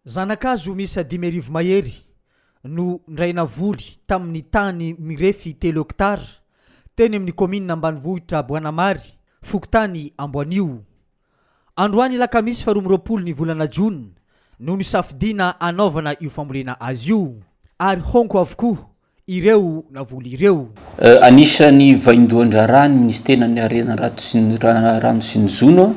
Zanakazo miisa dimy arivo mahery no nirainavoly tamin'ny tany mirefy telo hektara teny amin'ny kaominina ambanivohitra Boanamary, fokontany Amboanio. Androany alakamisy faharoa amby roapolo ny volana jona no nisafidiana hanaovana io fambolena azy io ary honko avokoa ireo navoly ireo. Anisan'ny vaindohan-draharahan'ny Minisiteran'ny Harena Rano sy ny Jono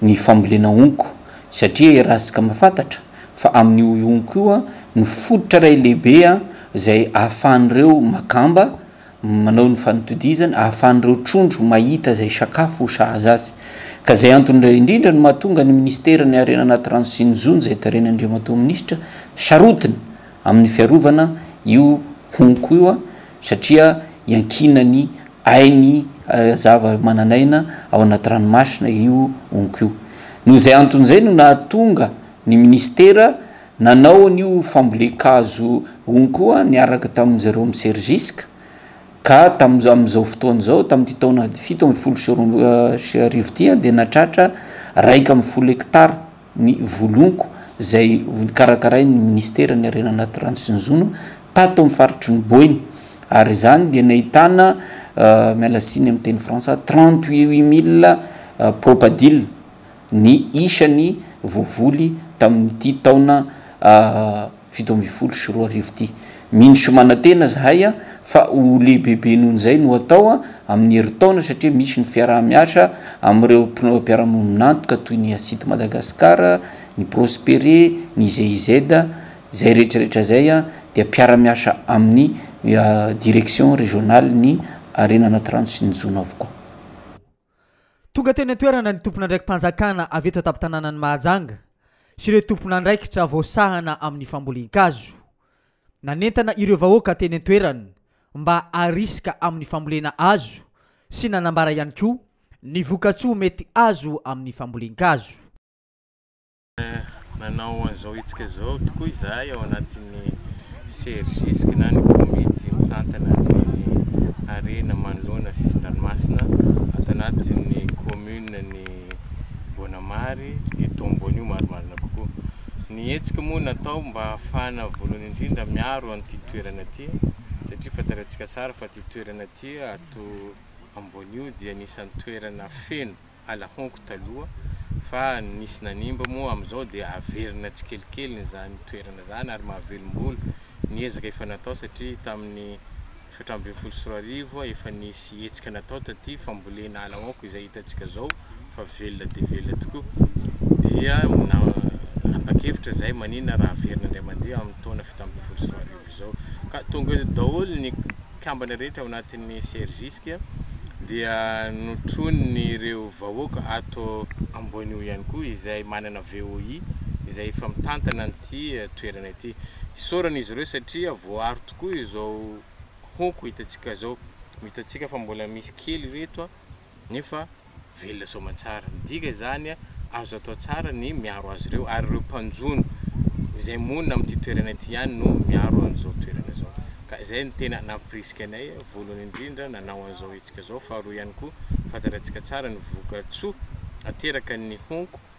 ny fambolena honko satria iarahantsika mahafantatra fa amin'io honko io no fototra iray lehibe izay ahafahan'ireo makamba manao ny fanatodizany, ahafahan'ireo trondro mahita izay sakafo ho sahaza azy. Ka izay antony indray indrindra no mahatonga ny Minisiteran'ny Harena Anaty Rano sy ny Jono izay tarehin'Andriamatoa Minisitra sarotiny amin'ny fiarovana io honko io a, satria iankinan'ny ainy zava-manan'aina ao anaty ranomasina io honko io. Noho izay antony izay no nahatonga ny minisitera nanao an'io fambolen-kazo honko io a, niaraka tamin'i Jérôme Sergisque, ka tamin'izao, amin'izao fotoana izao, tamin'ity taona fito ambin'ny folo sy roa sy arivo ity dia nahatratra iraika ambin'ny folo hekitara. ny Volonko izay karakarain'ny Minisiteran'ny Harena Natoraly sy ny Jono tato amin'ny faritry ny Boina ary izany dia nahitana, miala tsiny amin'ny teny frantsay, trente huit mille propadiles ny isan'ny voavoly tamin'ity taona. fito ambin'ny folo sy roa arivo ity. Mino sy manantena zahay fa ho lehibebe noho izay no hatao amin'ny herintaona satria misy ny fiaraha-miasa amin'ireo mpiara-miombon'antoka toy ny Acid Madagascar, ny Prospere, ny GIZ, izay rehetrarehetra izay dia mpiara-miasa amin'ny Direction Régionale ny harena anaty rano sy ny jono avokoa. Tonga teny an-toerana ny tompon'andraiki-panjakana avy eto an-tampon-tanànan'i Mahajanga sy ireo tompon'andraikitra voasahana amin'ny fambolen-kazo. Nanentana ireo vahoaka teny an-toerana mba harisika amin'ny fambolena hazo sy nanambara ihany koa ny vokatsoa mety azo amin'ny fambolen-kazo. Nanao an'izao hetsika izao tokoa izahay ao anatin'ny Sergisk na ny komity mitantana ny harena manoloana sisin-dranomasina ato anatin'ny commune ny Boanamary eto Amboanio marimarina kokoa. Ny hetsika moa natao mba hahafahana voalohany indrindra miaro an'ity toerana ity satria fantatsika tsara fa ity toerana ity ato Amboanio dia anisan'ny toerana feno ala honko taloha fa nisy nanimba moa amin'izao dia averina tsikelikely izany toerana izany ary mahavelom-bolo ny ezaka efa natao satria tamin'ny efatra ambin'ny folo sy roa arivo efa nisy hetsika natao taty fambolena ala honko izay hitantsika izao fa velona dia velona tokoa dia nanapa-kevitra izay manina raha averina indray mandeha amin'ny taona fito ambin'ny folo sy roa arivo izao ka tonga eto daholo ny kambana rehetra ao anatin'ny Sergisk dia notronin'ireo vahoaka ato Amboanio ihany koa izay manana VOI izay efa mitantana an'ity toerana ity. Isaorana izy ireo satria voaaro tokoa izao honko hitantsika izao. Hitantsika fa mbola misy kely ireto. nefa velona soamantsara. Midika izany, azo atao tsara ny miaro azy ireo, ary ireo mpanjono izay monina amin'ity toerana ity ihany no miaro an'izao toerana izao. Ka izay no tena nampirisika anay, voalohany indrindra, nanao an'izao hetsika izao. Faharoa ihany koa, fantatratsika tsara ny vokatsoa ateraky ny honko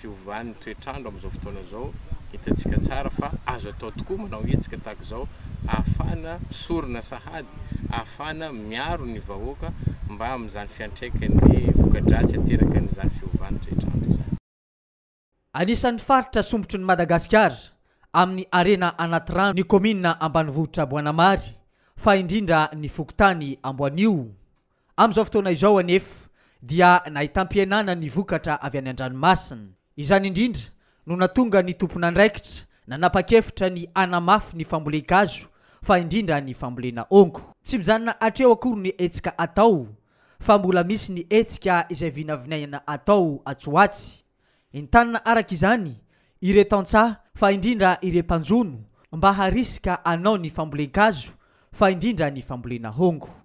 Fiovan'ny toetr'andro amin'izao fotoana izao, hitantsika tsara fa azo atao tokoa manao hetsika tahaka izao ahafahana misorona sahady ahafahana miaro ny vahoaka mba amin'izany fiantraikan'ny voka-dratsy aterakan'izany fiovan'ny toetr'andro izany. Anisan'ny faritra sombotry ny Madagasikara amin'ny harena anaty rano ny kaominina ambanivohitra Boanamary fa indrindra ny fokontany Amboanio. Amin'izao fotoana izao anefa dia nahitam-pihenana ny vokatra avy any an-dranomasina. Izany indrindra no natonga ny tompon'andraikitra nanapa-kevitra ny hanamafy ny fambolen-kazo fa indrindra ny fambolena ongo. Tsy mijanona hatreo akory ny hetsika atao fa mbola misy ny hetsika izay vinavinaina atao atsy ho atsy. Entanina araka izany ireo tantsaha fa indrindra ireo mpanjono mba harisika hanao ny fambolen-kazo fa indrindra ny fambolena ongo.